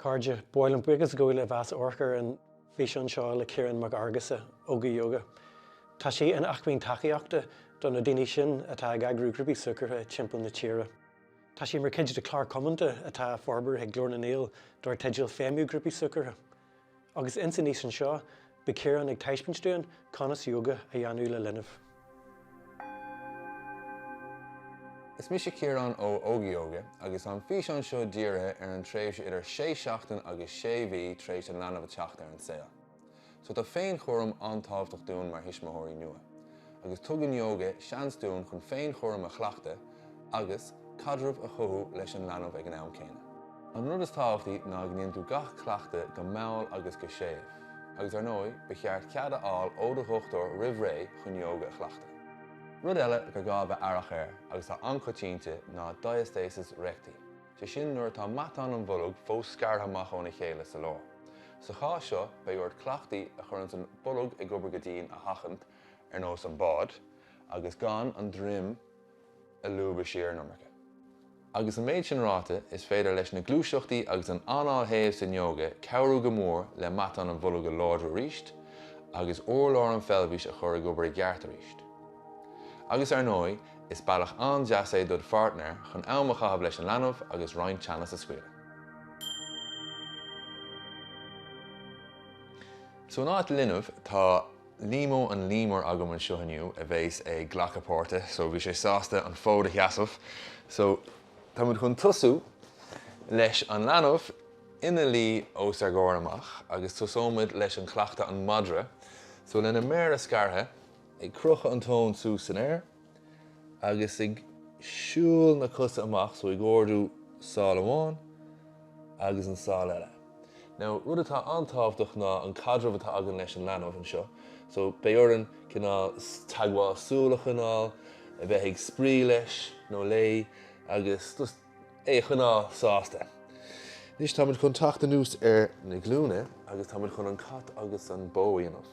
Cairde, Bhuel an-bhuíochas daoibh as a bheith ag amharc ar an bhfíseán seo le Ciarán Mac Fheargusa, Óga Yoga. Tá sé ina acmhainn tacaíochta do na daoine sin atá ag eagrú grúpaí súgartha timpeall na tíre. Tá sé mar chuid de chlár cumanta atá á forbairt ag Glór na nGael dar teideal Feidhmiú Grúpaí Súgartha. Agus ins an fhíseán seo, beidh Ciarán ag taispeáint dúinn conas yoga a dhéanamh le linbh. Is mise Ciarán ó Óga Yoga agus tá an físeán seo dírithe ar an tréimhse idir 6 seachtain agus 6 mhí tar éis an leanbh a theacht ar an saol. So tá féinchúram an-tábhachtach dúinn mar thuismitheoirí nua. agus tugann yoga seans dúinn chun féinchúram a chleachtadh agus caidreamh a chothú leis an leanbh ag an am céanna. An rud is tábhachtaí ná go ndéanann tú gach cleachtadh go mall agus go séimh, agus ar ndóigh, ba cheart cead a fháil ó do dhochtúir roimh ré chun yoga a chleachtadh. Rud eile gur gá a bheith aireach air, agus atá an-choitianta, ná diastasis recti, sé sin nuair atá matán an bhoilg fós scartha amach óna chéile sa lár. Sa chás seo, beidh ort cleachtaí a chuireanns an bolg ag obair go dian a sheachaint, ar nós an bád, agus gan an droim a lúbadh siar an iomarca. Agus an méid sin ráite, is féidir leis na gluaiseachtaí agus an anáil shéimh san ióga cabhrú go mór le matán an bhoilg a láidriú arís, agus urlár an pheilbhis a chur ag obair i gceart arís. Agus ar ndóigh, is bealach an-deas é dod' pháirtnéir chun am a chaitheamh leis an leanbh agus roinnt teannas a scaoileadh. So in áit linbh, tá. Liamó an léamar agam anseo inniu a bheas ag glacadh páirte so bhí sé sásta an fód a sheasamh so tá muid chun tosú leis an leanbh ina luí os ár gcomhair amach agus tosóimid leis an cleachtadh an madra so leis na méara scartha ag crochadh an tóin suas san aer agus ag siúl na cosa amach, so ag ardú sáil amháin agus an sáil eile. Now, rud atá an-tábhachtach ná an caidreamh atá againn leis an leanbh anseo, so beidh orainn cineál teagmháil súl a choinneáil, a bheith ag spraoi leis nó léi agus just, é a choinneáil sásta. Anois táimid chun teacht anuas ar na glúine agus táimid chun an cat agus an bó a dhéanamh.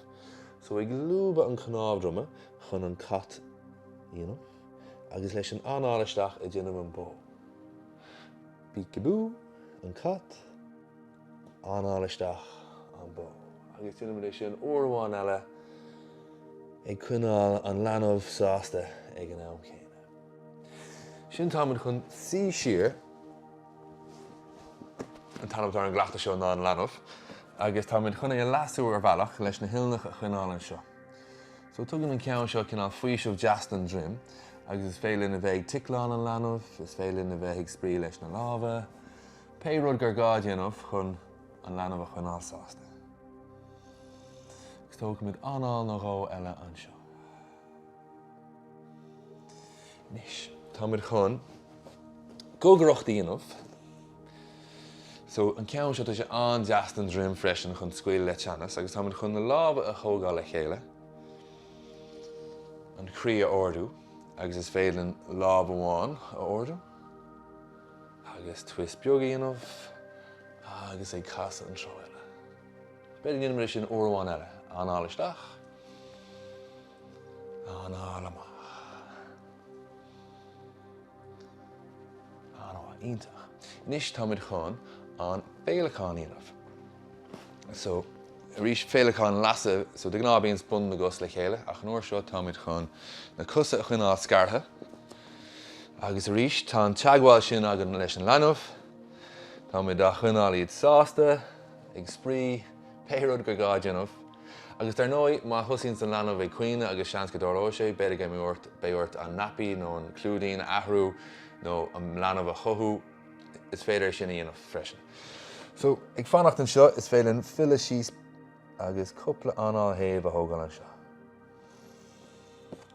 So ag lúbadh an cnámh droma chun an cat a dhéanamh agus leis an anáil isteach ag déanamh an bó. Peek-a-boo, an cat, anáil isteach, an bó. Agus déanaimid é sin uair amháin eile ag coinneáil an leanbh sásta ag an am céanna. Ansin táimid chun suí siar an t-ainm atá ar an gcleachtadh seo ná an leanbh agus táimid chun é a leasú ar bhealach leis na huilneacha a choinneáil anseo. So tugann an ceann seo cineál faoiseamh deas don droim agus is féidir linn a bheith ag ticleáil an leanbh, is féidir linn a bheith ag spraoi leis na lámha, pé rud gur gá a dhéanamh chun an leanbh a choinneáil sásta. Agus tógfaimid anáil nó dhó eile anseo. Anois, tá muid chun gogaireacht a dhéanamh. So, an ceann seo, tá sé an-deas don droim freisin chun scaoileadh le teannas agus tá muid chun na lámha a thógáil le chéile, an chroí a ardú agus is féidir linn lámh amháin a ardú agus twist beag a dhéanamh agus ag casadh an treo eile. B'fhéidir go ndéanfaimid é sin uair amháin eile. Anáil isteach. Anáil amach. Anáil. Iontach. Anois táimid chun an féileacán a dhéanamh. So, arís, féileacán leasaithe, so de ghnáth bíonn bun na gcos le chéile ach an uair seo táimid chun na cosa a choinneáil scartha agus arís tá an teagmháil sin againn leis an leanbh. Táimid á choinneáil iad sásta ag spraoi, pé rud gur gá a dhéanamh. Agus dar ndóigh, má thosaíonns an leanbh ag caoineadh agus seans go dtarlóidh sé, b'fhéidir go mbeidh ort an naipí nó an clúidín a athrú nó an leanbh a chothú, is féidir é sin a dhéanamh freisin. So, ag fanacht anseo, is féidir linn filleadh síos agus cúpla anáil shéimh a thógáil anseo.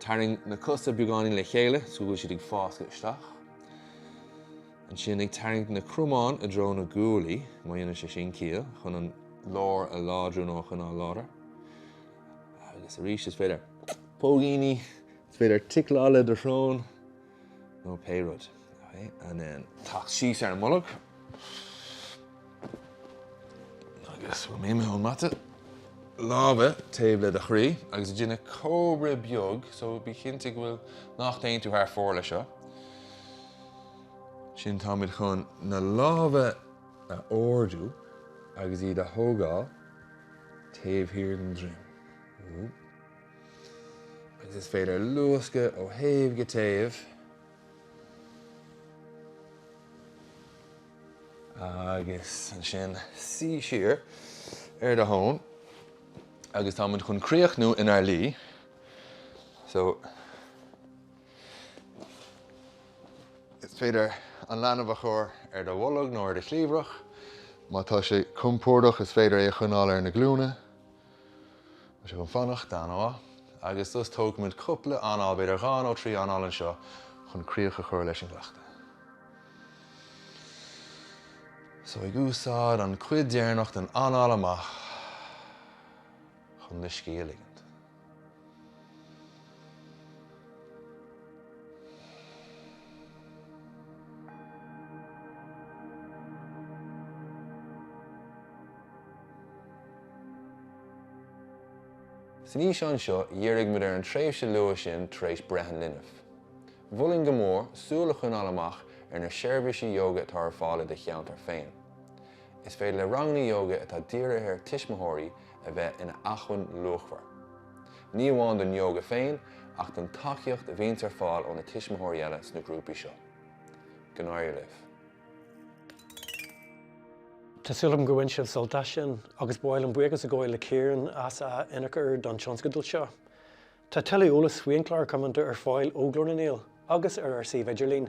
Tarraing na cosa beagáinín le chéile is go bhfuil siad ag fáscadh isteach. Ansin ag tarraingt na cromáin i dtreo na guaillí, má dhéanann sé sin ciall, chun an lár a láidriú nó a choinneáil láidir. Agus arís is féidir póigíní, is féidir ticleáil le do shrón. nó pé rud teacht síos ar an mbolg agus ón mata lámha taobh le do chroí agus ag déanamh comhrá beag so bí cinnte go bhfuil nach dtéann tú thar fóir leis seo, ansin táimid chun na lámha a ardú agus iad a thógáil taobh thiar den droim. agus is féidir luascadh ó thaobh go taobh agus ansin suí siar ar do thóin agus tá muid chun críochnú inár luí so is féidir an leanbh a chur ar do bholg nó ar do chliabhrach, má tá sé compordach is féidir é a choinneáil ar na glúine. Tá sé chun fanacht dá nó trí agus tú tógfaimid cúpla anáil, b'fhéidir dhá nó trí anáil anseo chun críoch a chur leis an gcleachtadh. So ag úsáid an cuid deireanach den anáil amach chun do scíth a ligint. San fhíseán seo dhírigh muid ar an tréimhse luath sin tar éis breith an linbh. Mholfainn go mór súil a choinneáil amach ar na seirbhísí yoga atá ar fáil i do cheantar féin. Is féidir le ranganna yoga atá dírithe ar tuismitheoirí, a bheith ina acmhainn luachmhar, ní amháin don ióga féin, ach don tacaíocht a bhíonns ar fáil ó na tuismitheoirí eile sna grúpaí seo. Go n-éirí libh. Tá súil agam go bhain sibh sult as sin, agus ba mhaith liom buíochas a ghabháil le Ciara as a hionchur don tionscadal seo. Tá tuilleadh eolais faoi An Clár Cumainn ar fáil ó Ghlór na nGael agus ar ár suíomh idirlín.